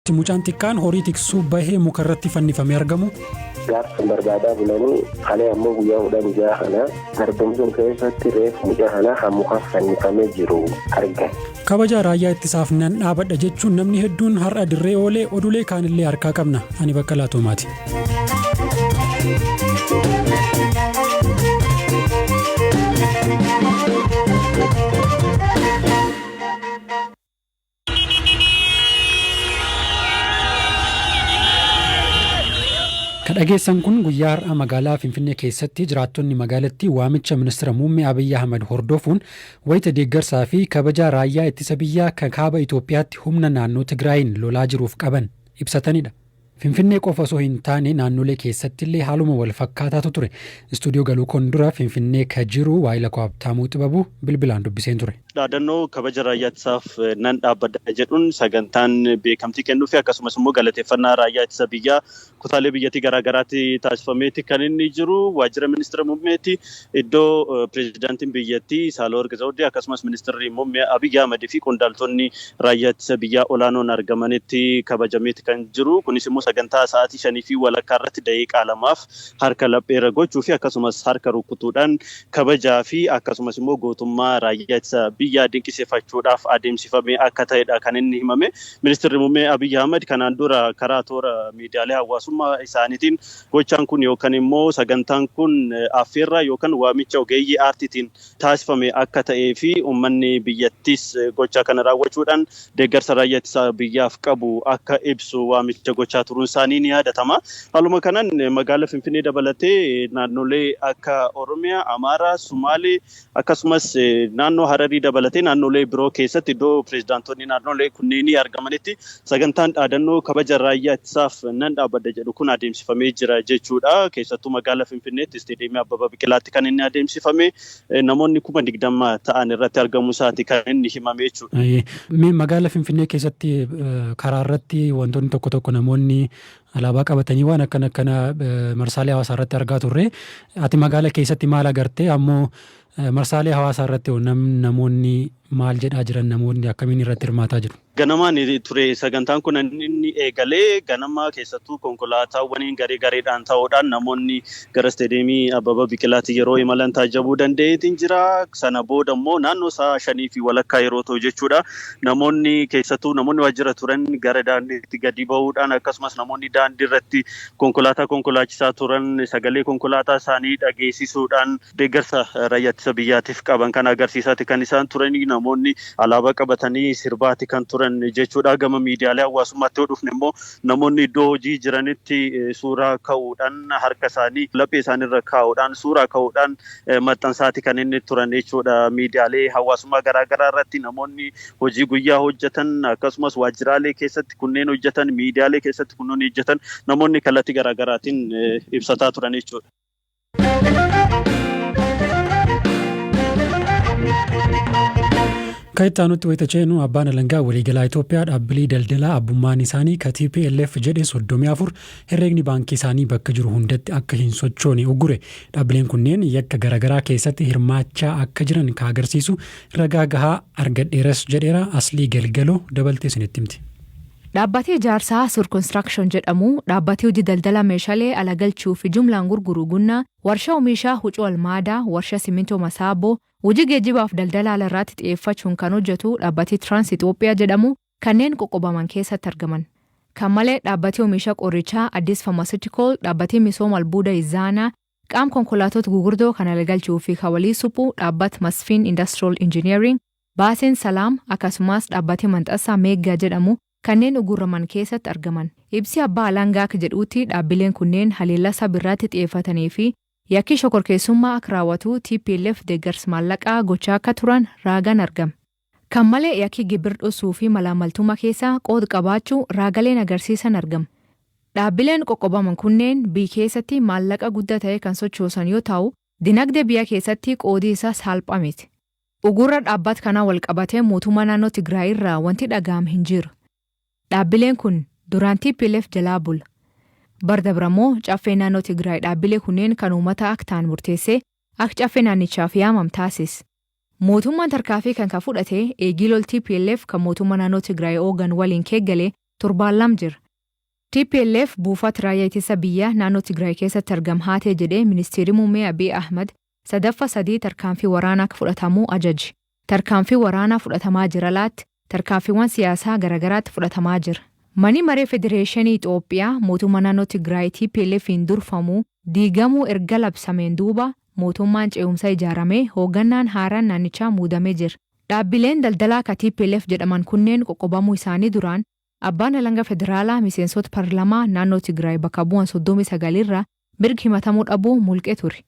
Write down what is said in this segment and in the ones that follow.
Itti mucaan xiqqaan horii tiksu bahee muka irratti fannifamee argamu. Gaafsan barbaadaa bulanii kalee ammoo guyyaa kudhan ja'a kana garbum sun keessatti reef mucaa kana kan muka fannifamee jiru argan. Kabaja raayyaa ittisaaf nan dhaabadha jechuun namni hedduun har'a dirree oolee odulee kaanillee harkaa qabna. Ani Baqqalaa Toomaati. Ka dhageessan kun guyyaa har'aa magaalaa Finfinnee keessatti jiraattonni magaalattii waamicha ministira muummee Abiyyi Ahmad hordofuun wayita deeggarsaa fi kabajaa raayyaa ittisa biyyaa ka kaaba Itoophiyaatti humna naannoo Tigraayiin lolaa jiruuf qaban ibsatanidha. Finfinnee qofa osoo hin taane naannolee keessattillee haaluma wal fakkaataatu ture. Istuudiyoo galuu koon dura Finfinnee ka jiru waayila koo Habtaamuu Xibabuu bilbilaan dubbiseen ture. Dhaadannoo kabaja raayyaa ittisaaf nan dhaabbadha jedhuun sagantaan beekamtii kennuufi akkasumas immoo galateeffannaa raayyaa ittisa biyyaa kutaalee biyyattii garaa garaatti taasifameeti kan inni jiru. Waajjira Ministira Muummeeti. iddoo Pireezidaantiin biyyattii Saalawarq Zawdee akkasumas Ministirri Muummee Abiy Ahmad fi qondaaltonni Raayyaa Ittisa Biyyaa olaanoon argamanitti kabajameeti kan jiru. Kunis immoo sagantaa sa'aatii shanii fi walakkaa irratti daqiiqaa lamaaf harka laphee irra gochuu fi akkasumas harka rukkutuudhaan kabajaa fi akkasumas immoo gootummaa Raayyaa Ittisa Biyyaa dinqisiifachuudhaaf adeemsifamee akka ta'edha kan inni himame. Ministirri Muummee Abiy Ahmad kanaan dura karaa toora miidiyaalee hawaasummaa isaaniitiin Gochaan kun yookan immoo sagantaan kun affeerraa yookan waamicha ogeeyyii aartiitiin taasifame akka ta'ee fi ummanni biyyattiis gochaa kana raawwachuudhaan deeggarsa Raayyaa Ittisa Biyyaaf qabu akka ibsu waamicha gochaa turuun isaanii ni yaadatama. Haaluma kanaan magaala Finfinnee dabalatee naannolee akka Oromiyaa, Amaaraa, Sumaalee, Akkasumas naannoo Hararii dabalatee naannolee biroo keessatti iddoo pireezidaantonni naannolee kunneenii argamanitti sagantaan dhaadannoo kabaja raayyaa ittisaaf nan dhaabbadha jedhu kun adeemsifamee jira jechuudha. Keessattuu magaala Finfinneetti isteediyeemii Abbaba Biqilaatti kan inni adeemsifame namoonni kuma digdama ta'an irratti argamuu isaati kan inni himame jechuudha. Mee magaala Finfinnee keessatti karaa irratti wantoonni tokko tokko namoonni Alaabaa qabatanii waan akkana akkana marsaalee hawaasaa irratti argaa turre. Ati magaala keessatti maal agartee ammoo marsaalee hawaasaa irratti hoo nam namoonni maal jedhaa jiran namoonni akkamiin irratti hirmaataa jiru? Ganamaan ture sagantaan kun inni eegalee ganama keessattuu konkolaataawwaniin garee gareedhaan ta'uudhaan namoonni Gara Isteediyeemii Abbaba Biqilaatti yeroo imalan taajjabuu danda'eetiin jira. Sana booda immoo naannoo sa'a shanii fi walakkaa yeroo ta'u jechuudha. Namoonni keessattuu namoonni waajjira turan gara daandiitti gadi ba'uudhaan akkasumas namoonni daandii irratti konkolaataa konkolaachisaa turan sagalee konkolaataa isaanii dhageessisuudhaan deeggarsa raayyaa ittisa biyyaatiif qaban kan agarsiisaati kan isaan turan namoonni alaabaa qabatanii sirbaati kan turan jechuudha. Gama miidiyaalee hawaasummaatti yoo dhufne immoo Namoonni iddoo hojii jiranitti suuraa ka'uudhaan harka isaanii laphee isaanii irra kaa'uudhaan suuraa ka'uudhaan maxxansaati kan inni turan jechuudha. Miidiyaalee hawaasummaa garaa garaa irratti namoonni hojii guyyaa hojjetan akkasumas waajjiraalee keessatti kunneen hojjetan miidiyaalee keessatti kunneen hojjetan namoonni kallattii garaa garaatiin ibsataa turan jechuudha. Akka itti aanutti wayita ceenu abbaan alangaa waliigalaa Itoophiyaa dhaabbilee daldalaa abbummaan isaanii ka TPLF jedhe 34 herreegni baankii isaanii bakka jiru hundatti akka hin sochoone uggure. Dhaabbileen kunneen yakka garaagaraa keessatti hirmaachaa akka jiran ka agarsiisu ragaa gahaa argadheeras jedheera aslii galgaloo dabaltee isinitti himti. Dhaabbatii ijaarsaa Sur Construction jedhamu, dhaabbatii hojii daldala meeshalee ala galchuu fi jumlaan gurguru Gunna, warsha omiisha hucuu Almaada, warsha simintoo Masaabbo, hojii geejjibaa fi daldala ala irraatti xiyeeffachuun kan hojjatu dhaabbatii Trans Ethiopia jedhamu kanneen qoqqobaman keessatti argaman. Kan malee dhaabbatii omiisha qorrichaa Addis Pharmaceutical, dhaabbatii misooma albuuda Izaana, Qaam konkolaatoot gugurdoo kana lgalchuu fi ka walii suphu dhaabbat Masfin Industrial Engineering, Baasin Salaam, akasumaas dhaabbati manxassaa Meegga jedhamu kanneen ugurraman keessatt argaman. Ibsi abbaa alangaa akk jedhuutti dhaabbileen kunneen haleellaa sab irraatti xiyeeffatanii fi yakkii shokorkeessummaa akk raawatu tplf deeggars maallaqaa gochaa akka turan raagan argam. Kan malee yakki gibir dhossuu fi malaammaltumma keessaa qood qabaachuu raagaleen agarsiisan argam. Dhaabbileen qoqqobaman kunneen biy keessatti maallaqa gudda ta'e kan sochoosan yoo taa'u, dinagde biya keessatti qoodi isa saalpha mit. Ugurra dhaabbat kanaa wal qabatee mootumma naannoo Tigraay irraa wanti dhaga'am hin jiru. Dhaabbileen kun duraan tplf jalaa bula. Bar dabra moo caffeen naannoo Tigraay dhaabbile kunneen kan uumata ak ta'an murteessee ak caffe naannichaaf yaamam taasis. Mootummaan tarkaafii kan ka fudhate eegii lol tplf ka mootumma naannoo Tigraay oogan waliin keegale torbaan lam jir. Tplf buufaat raayyaa itissa biyyaa naannoo Tigraay keessatti argam haatee jedhee ministeerii muummee Abiy Ahmad sadaffa sadii tarkaanfii waraanaa akka fudhatamuu ajaje. Tarkaanfii waraanaa fudhatamaa jiralaatt. Tarkaanfiiwwan siyaasaa garagaraatti fudhatamaa jira. Mani Maree Federeeshenii Xoophiyaa mootumma naannoo Tigraay TPLFn durfamu diigamuu erga labsameen duuba mootummaan ce'umsa ijaaramee hooggannaan haaraan naannichaa muudamee jira. Dhaabbileen daldalaa ka tplf jedhaman kunneen qoqqobamuu isaanii duraan Abbaan Alanga Federaalaa miseensoota parlamaa naannoo Tigraay bakka bu'an 39 irraa mirgi himatamuu dhabuu mulqe ture.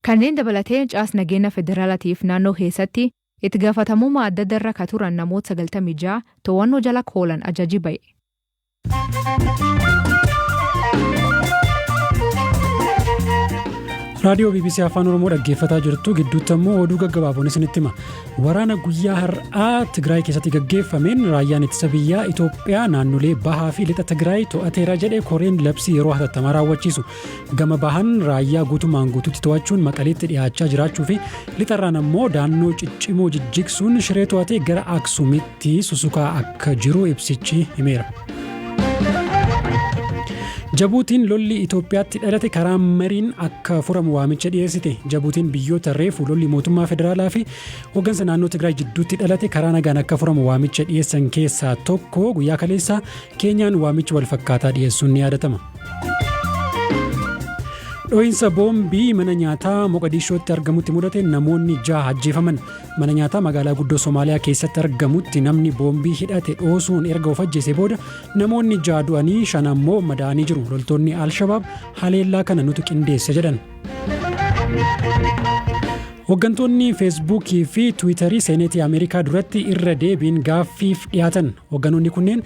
Kanneen dabalatee caas nageenna federaalatiif naannoo keessatti Itti gafatamuuma addadda irra ka turan namoot 96 toowanno jala ka oolan ajaji baye. raadiyoo bbc afaan oromoo dhaggeeffataa jirtu gidduutti ammoo oduu gaggabaaboon isinitti hima waraana guyyaa har'aa tigraay keessatti gaggeeffameen raayyaan ittisa biyyaa itoophiyaa naannolee bahaa fi lixa tigraay to'ateera jedhe koreen labsii yeroo hatattamaa raawwachiisu Gama bahan raayyaa guutumaan guututti to'achuun Maqaleetti dhiyaachaa jiraachuu fi lixarraan ammoo daannoo ciccimoo jijjigsuun shiree to'atee gara Aksumitti susukaa akka jiru ibsichi himeera. Jabuutiin lolli Itoophiyaatti dhalate karaa mariin akka furamu waamicha dhiyeessite. Jabuutiin biyyoota reefu lolli mootummaa federaalaa fi hooggansa naannoo Tigraay jidduutti dhalate karaa nagaan akka furamu waamicha dhiyeessan keessaa tokko guyyaa kaleessaa Keenyaan waamicha walfakkaataa dhiyeessuun ni yaadatama. Dho'iinsa boombii mana nyaataa Moqadiishootti argamutti mudate namoonni jaha ajjeefaman. Mana nyaataa magaalaa guddoo Somaaliyaa keessatti argamutti namni boombii hidhate dhoosuun erga of ajjeese booda namoonni jaha du'anii shan ammoo madaa'anii jiru. Loltoonni Alshabaab haleellaa kana nutu qindeesse jedhan. Hoggantoonni Feesbuukii fi Tiwiitarii Seeneetii Ameerikaa duratti irra deebiin gaaffiif dhiyaatan. Hogganoonni kunneen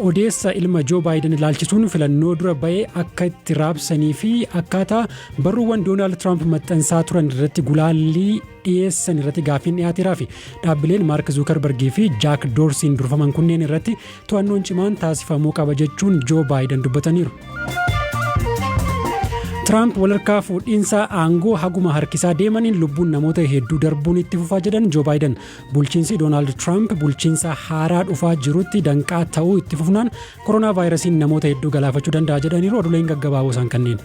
odeessa ilma Joo Baayiden ilaalchisuun filannoo dura ba'ee akka itti raabsanii fi akkaataa barruuwwan Doonaald Tiraamp maxxansaa turan irratti gulaallii dhiyeessan irratti gaaffiin dhiyaateeraa fi dhaabbileen Maark Zuukarbargii fi Jaak Doorsiin durfaman kunneen irratti to'annoon cimaan taasifamuu qaba jechuun Joo Baayidan dubbataniiru. Tiraamp walharkaa fuudhiinsa aangoo haguma harkisaa deemaniin lubbuun namoota hedduu darbuun itti fufaa jedhan Joo Baayidan. Bulchiinsi Doonaald Tiraamp bulchiinsa haaraa dhufaa jirutti danqaa ta'uu itti fufnaan koronaa vaayirasiin namoota hedduu galaafachuu danda'a jedhaniiru oduuleen gaggabaaboo isaan kanneen.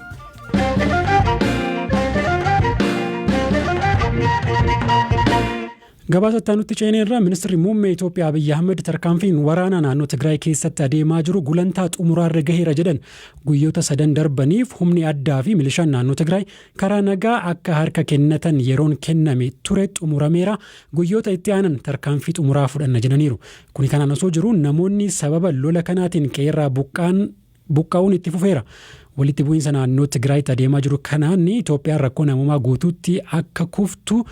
Gabaasa itti aanutti ceenee irraa ministirri muummee Itoophiyaa Abiyyi Ahmed tarkaanfiin waraanaa naannoo Tigraay keessatti adeemaa jiru gulantaa xumuraarra gaheera jedhan guyyoota sadan darbaniif humni addaa fi milishaan naannoo Tigraay karaa nagaa akka harka kennatan yeroon kenname ture xumurameera guyyoota itti aanan tarkaanfii xumuraa fudhanna jedhaniiru. Kuni kanaan osoo jiru namoonni sababa lola kanaatiin qeerraa buqqaan buqqa'uun itti fufeera. Walitti bu'iinsa naannoo Tigraayitti adeemaa jiru kanaan Itoophiyaan rakkoo namoomaa guutuutti akka kuftu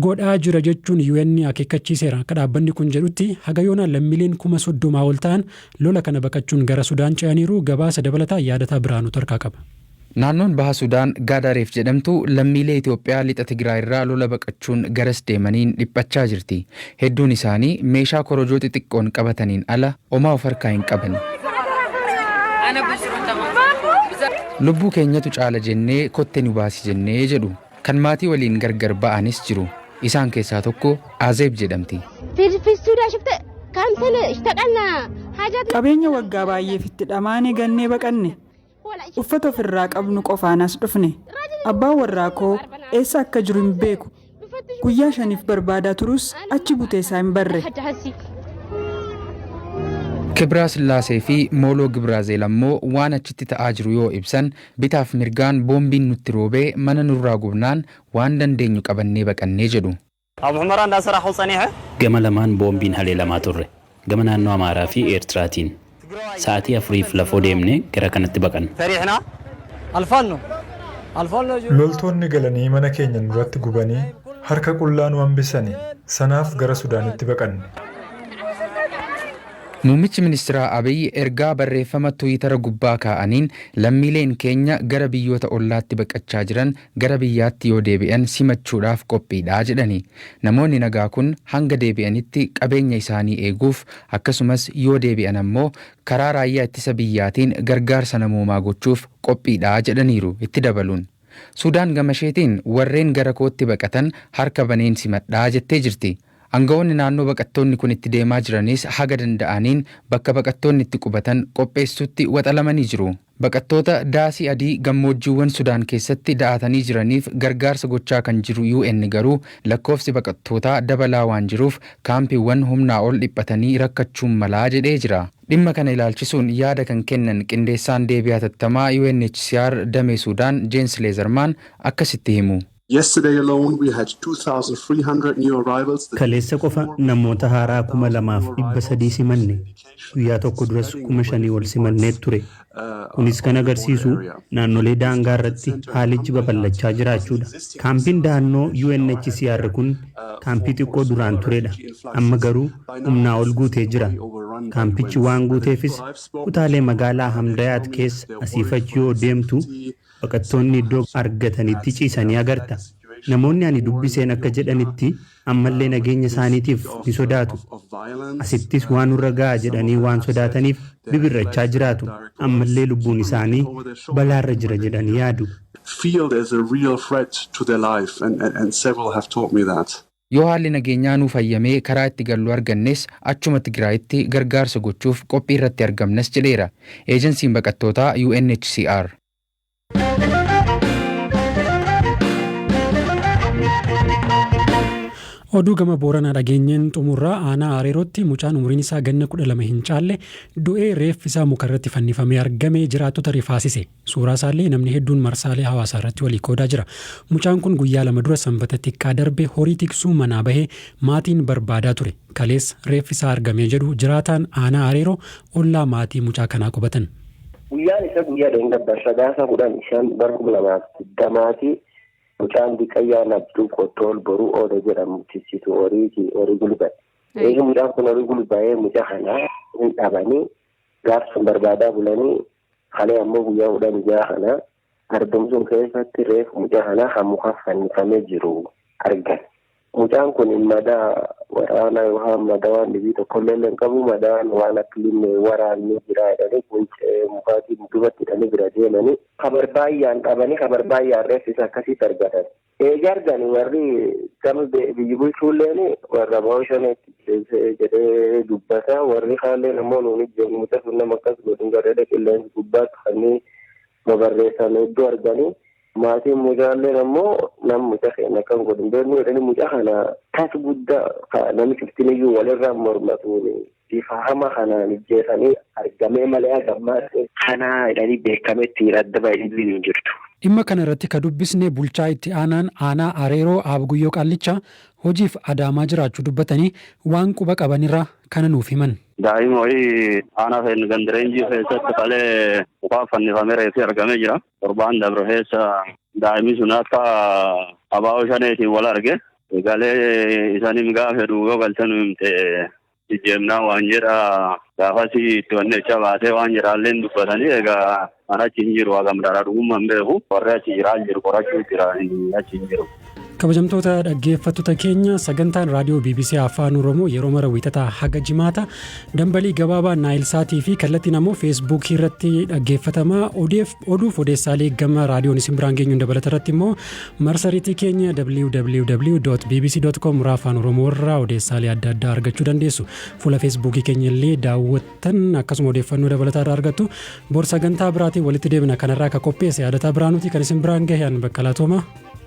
godhaa jira jechuun UN akeekkachiiseera. Akka dhaabbanni kun jedhutti haga yoonaa lammiileen kuma soddomaa ol ta'an lola kana baqachuun gara Sudaan ce'aniiru. Gabaasa dabalataa Yaadataa Birhaanuu Tarkaa qaba. Naannoon Baha Sudaan Gaadaareef jedhamtu lammiilee Itoophiyaa Lixa Tigraayirraa lola baqachuun garas deemaniin dhiphachaa jirti. Hedduun isaanii meeshaa korojoo xixiqqoon qabataniin ala omaa of harkaa hin qabani. Lubbuu keenyatu caala jennee kotte nu baasi jennee jedhu. Kan maatii waliin gargar ba'anis jiru. Isaan keessaa tokko Azeeb jedhamti. Qabeenya waggaa baay'eef itti dhamaane gannee baqanne. Uffata ofirraa qabnu qofaan as dhufne. Abbaan warraa koo eessa akka jiru hin beeku. Guyyaa shaniif barbaadaa turus achi butee isaa hin barre. Kibraa Sillaasee fi Mooloo Gibraazeel ammoo waan achitti ta'aa jiru yoo ibsan, bitaaf mirgaan boombiin nutti roobee mana nurraa gubnaan waan dandeenyu qabannee baqannee jedhu. Abu Humaraan Daansa Raaxul Tsaniixe. Gama lamaan boombiin haleelamaa turre. Gama naannoo Amaaraa fi Eertiraatiin. Sa'atii afuriif lafoo deemnee gara kanatti baqanne. Fariixna Alfaanno Alfaanno jiru. Loltoonni galanii mana keenya nurratti gubanii harka qullaa nu hambisani. Sanaaf gara Sudaanitti baqanne. Muummichi Ministiraa Abiy ergaa barreeffama Twiitara gubbaa kaa'aniin lammiileen keenya gara biyyoota ollaatti baqachaa jiran gara biyyaatti yoo deebi'an simachuudhaaf qophiidha jedhani. Namoonni nagaa kun hanga deebi'anitti qabeenya isaanii eeguuf akkasumas yoo deebi'an ammoo karaa raayyaa ittisa biyyaatiin gargaarsa namoomaa gochuuf qophiidha jedhaniiru itti dabaluun. Suudaan gamasheetiin warreen gara kootti baqatan harka baneen simadha jettee jirti. Angawoonni naannoo baqattoonni kun itti deemaa jiranis haga danda'aniin bakka baqattoonni itti qubatan qopheessuutti waxalamanii jiru. Baqattoota daasii adii gammoojjiiwwan Sudaan keessatti da'aatanii jiraniif gargaarsa gochaa kan jiru UN garuu lakkoofsi baqattootaa dabalaa waan jiruuf kaampiiwwan humnaa ol dhiphatanii rakkachuun malaa jedhee jira. Dhimma kana ilaalchisuun yaada kan kennan qindeessaan deebii hatattamaa UNHCR damee Suudaan Jeens Leezarmaan akkasitti himu. Yesterday alone we had 2,300 new arrivals. Kaleessa qofa namoota haaraa 2,300 simanne. Guyyaa tokko duras 5,000 ol simannee ture. Kunis kan agarsiisu naannolee daangaa irratti haalichi babal'achaa jiraachuudha. Kaampiin dahannoo UNHCR kun kaampii xiqqoo duraan turedha. Amma garuu humnaa ol guutee jira. Kaampichi waan guuteefis kutaalee magaalaa Hamdayaat keessa asiif achi yoo deemtu Baqattoonni iddoo argatanitti ciisanii agarta. Namoonni ani dubbiseen akka jedhanitti ammallee nageenya isaaniitiif ni sodaatu. Asittis waa nurra ga'a jedhanii waan sodaataniif bibir'achaa jiraatu. Ammallee lubbuun isaanii balaarra jira jedhanii yaadu. Yoo haalli nageenyaa nuuf hayyamee karaa itti gallu argannes achuma Tigraayitti gargaarsa gochuuf qophiirratti argamnas jedheera Eejansiin Baqattootaa UNHCR. Oduu gama Booranaa dhageenyeen xumurraa aanaa Areerootti mucaan umriin isaa ganna kudha lama hin caalle du'ee reeffi isaa mukarratti fannifamee argame jiraattota rifaasise. Suuraasaallee namni hedduun marsaalee hawaasaarratti walii qoodaa jira. Mucaan kun guyyaa lama dura Sanbata xiqqaa darbe horii tiksuu manaa bahee maatiin barbaadaa ture. Kaleessa reeffi isaa argamee jedhu jiraataan aanaa Areeroo ollaa maatii mucaa kanaa qubatan. Guyyaan isaa guyyaa dheengaddaa Sadaasa 10, 5 bara 2020ti. Mucaan diqqayyaa Nabduu Qottool Boruu Ooda jedhamu tiksituu horiiti horii gulbate. Eega mucaan kun horii gulbaa'ee mucaa kana hin dhabanii gaafsan barbaadaa bulanii Kalee ammoo guyyaa kudhanii ja'a kana argame sun keessatti reeffa mucaa kanaa kan mukaan fannifamee jiru argan. Mucaan kun madaa waraanaa yookaan madaa waan dhibii tokkollee hin qabu madaan waan akka limmee waraanni jiraa jedhanii quncee mukaatiin dubatti hidhanii bira deemanii kabarbaayyaan qabanii kabarbaayyaan reeffa isaa akkasitti argatan. Eega argani warri gama biyyi bulchuulleen warra ba'oo shaneetti jeese jedhee dubbata. Warri kaalleen ammoo nuun ijjeef muca sun nama akkas godhin garrada qilleensi gubbaatti kannii babarreessan hedduu arganii. Maatiin mucaalleen ammoo nam muca keenya akkan godhin beeknu jedhanii muca kana tas guddaa nami cuftiniyyuu walirraa mormatuuni. Bifa hama kanaan ijjeesanii argamee malee haga ammaatti kana jedhanii beekamettiin adda bahe dhibbiin hin jirtu. Dhimma kana irratti ka dubbisne bulchaa itti aanaan aanaa Areeroo Aab Guyyoo Qaallichaa hojiif Adaamaa jiraachuu dubbatanii waan quba qaban irraa kana nuuf himan. Daa'ima wayii aanaa keenya ganda Reenjii keessatti kalee mukaan fannifamee reeffi argamee jira. Torbaan dabre keessa daa'imni sun akka abaaboo shaneetiin wal arge galee isaaniin gaafa fedhu yoo galtee nu himte jijjiirnaa waan jedha gaafas itti wanni jecha baatee waan jedhaallee hin dubbatanii egaa an achi hin jiru hagam dharaa dhugummaa hin beeku warri achi jiraa hin jiru qorachuu jira achi hin jiru. Kabajamtoota dhaggeeffattoota keenya sagantaan raadiyoo BBC Afaan Oromoo yeroo mara wiixataa haga jimaata dambalii gabaabaa naayilsaatii fi kallattiin ammoo feesbuukii irratti dhaggeeffatamaa odeef Oduuf odeessaalee gama raadiyoon isin biraan geenyuun dabalata irratti immoo marsariitii keenya www.bbc.com irraa afaan oromoo irraa odeessaalee adda addaa argachuu dandeessu. Fuula feesbuukii keenya illee daawwattan akkasuma odeeffannoo dabalataa irraa argattu. Bor sagantaa biraatiin walitti deebina kanarraa akka qopheesse yaadataa biraanuuti kan isin biraan gahe an baqqalaa toomaa.